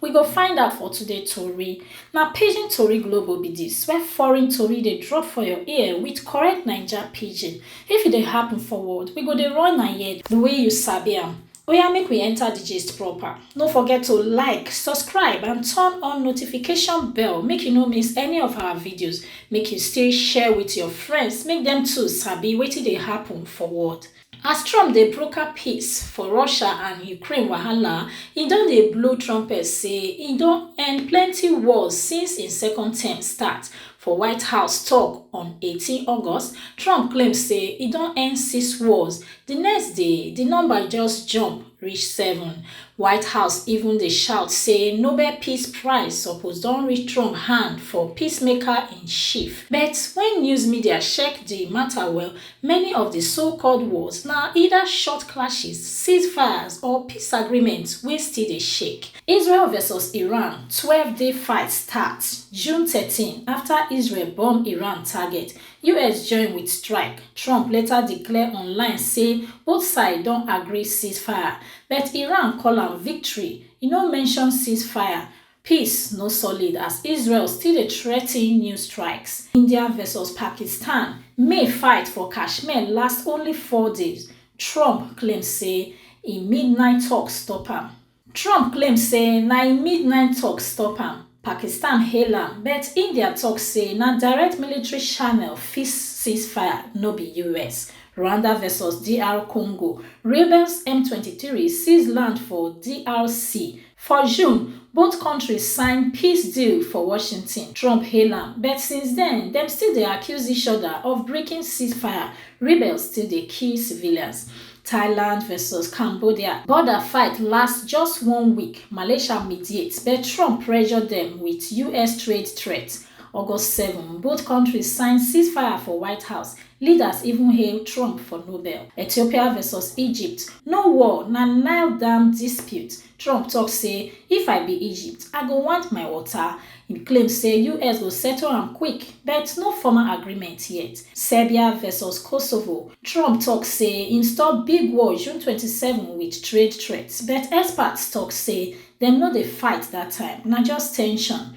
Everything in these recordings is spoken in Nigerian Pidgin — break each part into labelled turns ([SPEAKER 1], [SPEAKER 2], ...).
[SPEAKER 1] We go find out for today tori. Na Pidgin Tori Global be dis, where foreign tori dey drop for your ear with correct Naija pidgin. If e dey happen for world, we go dey run am here the way you sabi am. Oya make we enter the gist proper. No forget to like, subscribe and turn on notification bell make you no miss any of our videos. Make you still share with your friends make dem too sabi wetin dey happen for world. As Trump dey broker peace for Russia and Ukraine wahala, e don dey blow trumpet say e don end plenty wars since im second term start. For White House tok on eighteen August, Trump claim say e don end six wars. Di next day, di number just jump reach seven. White House even dey shout say Nobel Peace Prize suppose don reach Trump hand for peacemaker-in-chief. But wen news media check di mata well, Many of di so-called wars na either short clashes, ceasefires or peace agreements wey still dey shake. Israel versus Iran twelve day fight start June thirteen afta Israel bomb Iran target, us join wit strike. Trump later declare online say both side don agree ceasefire, but Iran call am victory, e no mention ceasefire. Peace no solid as Israel still dey threaten new strikes. India vs Pakistan May fight for Kashmir last only four days, Trump claim say im midnight talks stop am. Trump claim say na im midnight talks stop am, Pakistan hail am but India talk say na direct military channel fix ceasefire, no be us. Rwanda vs DR Congo Rebels M23 seize land for DRC, For June, both kontris sign peace deal for Washington, Trump hail am, but since den, dem still dey accuse each oda of breaking ceasefire, rebels still dey kill civilians. Thailand vs Cambodia border fight last just one week, Malaysia mediate, but Trump pressure dem wit us trade threat. August seven, both kontris sign ceasefire for White House, leaders even hail Trump for Nobel. Ethiopia vs Egypt, No war, na Nile dam dispute, Trump tok say if I be Egypt, I go want my water. Im claim say us go settle am quick, but no formal agreement yet. Serbia vs Kosovo, Trump tok say im stop big war June twenty seven wit trade threat, but experts tok say dem no dey fight dat time, na just tension.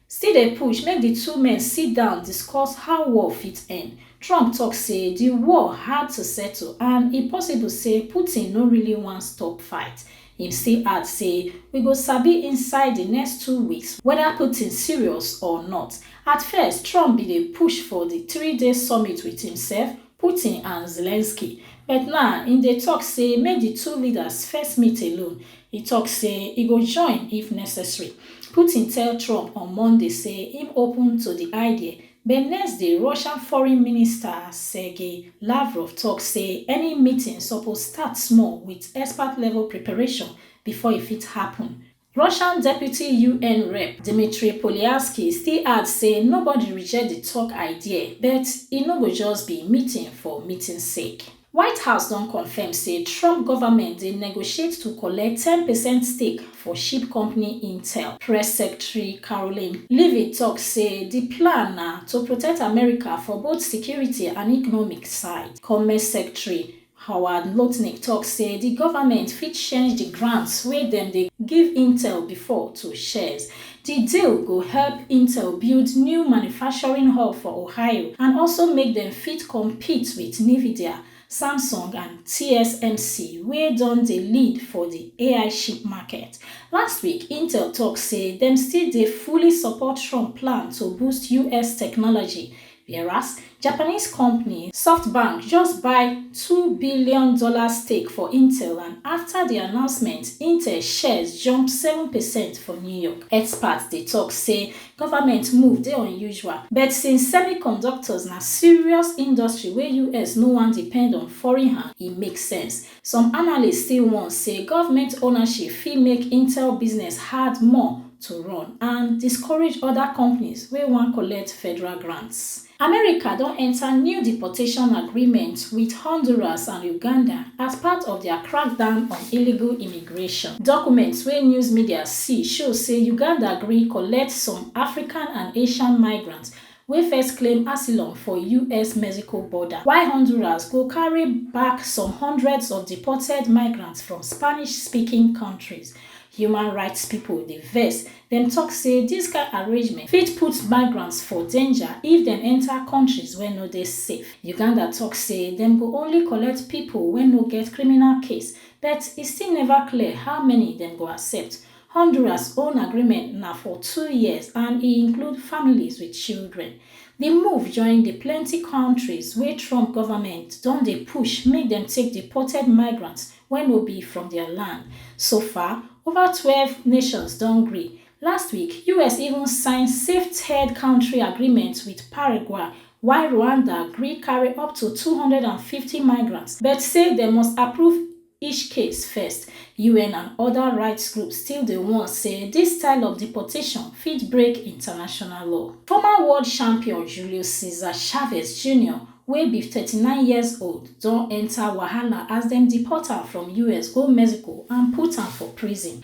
[SPEAKER 1] Still dey push make di two men sit down discuss how war fit end. Trump tok say di war hard to settle and e possible say Putin no really wan stop fight. Im still add say we go sabi inside di next two weeks weda Putin serious or not. At first, Trump bin dey push for di three-day summit wit imsef, Putin and Zelensky, but now im dey tok say make di two leaders first meet alone. E tok say e go join if necessary. Putin tell Trump on Monday say im open to di idea, but next day Russian Foreign Minister Sergei Lavrov tok say any meeting suppose start small wit expert-level preparation before e fit happun. Russian deputy UN rep Dmitry Polyarsky still add say nobody reject di tok idea but e no go just be meeting for meeting sake. White House don confirm say Trump government dey negotiate to collect ten percent stake for chip company Intel. Press Secretary Karoline Leavitt tok say di plan na to protect America for both security and economic side. Commerce Secretary Howard Lutnick tok say di government fit change di grants wey dem dey give Intel bifor to shares. Di deal go help Intel build new manufacturing hub for Ohio and also make dem fit compete wit Nvidia, Samsung and TSMC wey don dey lead for di ai chip market. Last week, Intel tok say dem still dey fully support Trump plan to boost us technology Whereas, Japanese company Softbank just buy two billion dollar stake for Intel and afta di announcement, Intel shares jump seven percent for New York. Experts dey tok say government move dey unusual, but since semiconductors na serious industry wey US no wan depend on foreign hand, e make sense. Some analysts still warn say government ownership fit make Intel business hard more to run and discourage other companies wey wan collect federal grants. America don enter new deportation agreement with Honduras and Uganda as part of their crackdown on illegal immigration. Documents wey news media see show say Uganda gree collect some African and Asian migrants wey first claim asylum for US-Mexico border, while Honduras go carry back some hundreds of deported migrants from Spanish-speaking kontris. Human rights pipo dey vex, dem tok say dis kain arrangement fit put migrants for danger if dem enta kontris wey no dey safe. Uganda tok say dem go only collect pipo wey no get criminal case, but e still neva clear how many dem go accept. Honduras own agreement na for two years and e include families wit children. Di move join di plenty kontris wey Trump govment don dey push make dem take deported migrants wey no be from dia land. So far, ova twelve nations don gree. Last week, us even sign safe third kontri agreement wit Paraguay, while Rwanda gree carry up to two hundred and fifty migrants but say dem must approve. each case first, UN and oda rights groups still dey warn say dis style of deportation fit break international law. Former world champion Julio Cesar Chavez Junior, wey be thirty nine years old, don enta wahala as dem deport am from us go Mexico and put am for prison.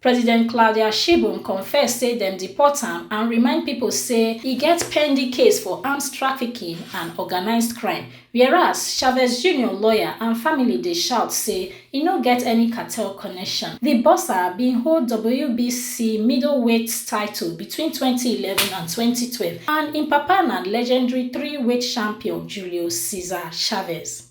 [SPEAKER 1] President Claudia Sheinbaum confess say dem deport am and remind pipo say e get pending case for arms trafficking and organised crime, whereas Chavez Junior lawyer and family dey shout say e no get any cartel connection. Di boxer bin hold WBC middleweight title between twenty eleven and twenty twelve and im papa na legendary three-weight champion Julio Cesar Chavez.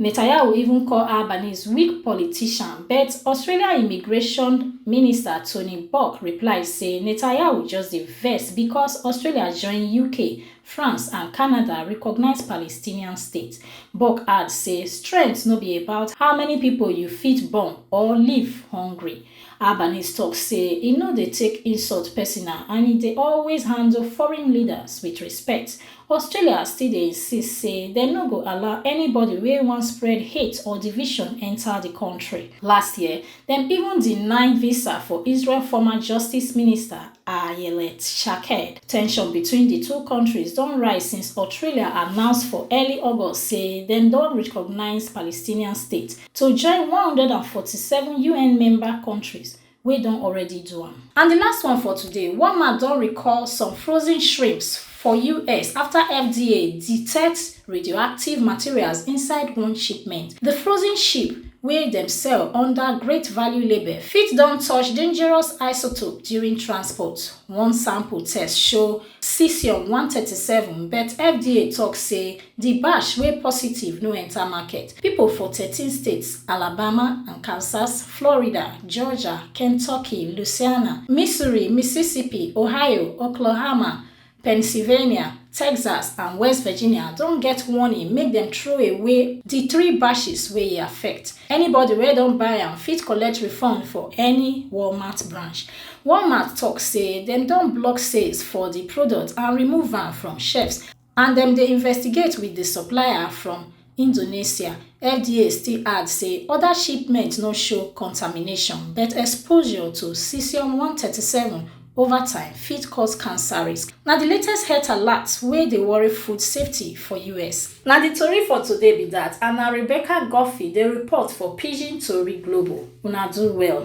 [SPEAKER 1] Netanyahu even call Albanese weak politician but Australia immigration minister Tony Burke reply say Netanyahu just dey vex because Australia join UK, France and Canada recognise Palestinian state. Burke add say strength no be about how many pipo you fit bomb or leave hungry. Albanese tok say e no dey take insult personal and e dey always handle foreign leaders wit respect Australia still dey insist say dem no go allow anybody wey wan spread hate or division enta di kontri. Last year, dem even deny visa for Israel former justice minister Ayelet Shaked. Tension between di two kontris don rise since Autralia announce for early August say dem don recognise Palestinian state to join one hundred and forty seven UN member kontris wey don already do am. And di last one for today, Walmart don recall some frozen shrimps for us afta FDA detect radioactive materials inside one shipment. Di frozen ship, wey dem sell under Great Value label, fit don touch dangerous isotope during transport, one sample test show. Cesium one thirty seven but FDA tok say di batch wey positive no enta market. Pipo for thirteen states, Alabama, Arkansas, Florida, Georgia, Kentucky, Louisiana, Missouri, Mississippi, Ohio, Oklahoma, Pennsylvania, Texas and West Virginia don get warning make dem throw away di three batches wey e affect. Anybody wey don buy am fit collect refund for any Walmart branch. Walmart tok say dem don block sales for di product and remove am from shelves and dem dey investigate wit di supplier from Indonesia. FDA still add say oda shipments no show contamination, but exposure to cesium one hundred and thirty seven ova time fit cause cancer risk. Na di latest health alert wey dey worry food safety for us. Na di tori for today be dat and na Rebecca Guffey dey report for Pidgin Tori Global. Una do well.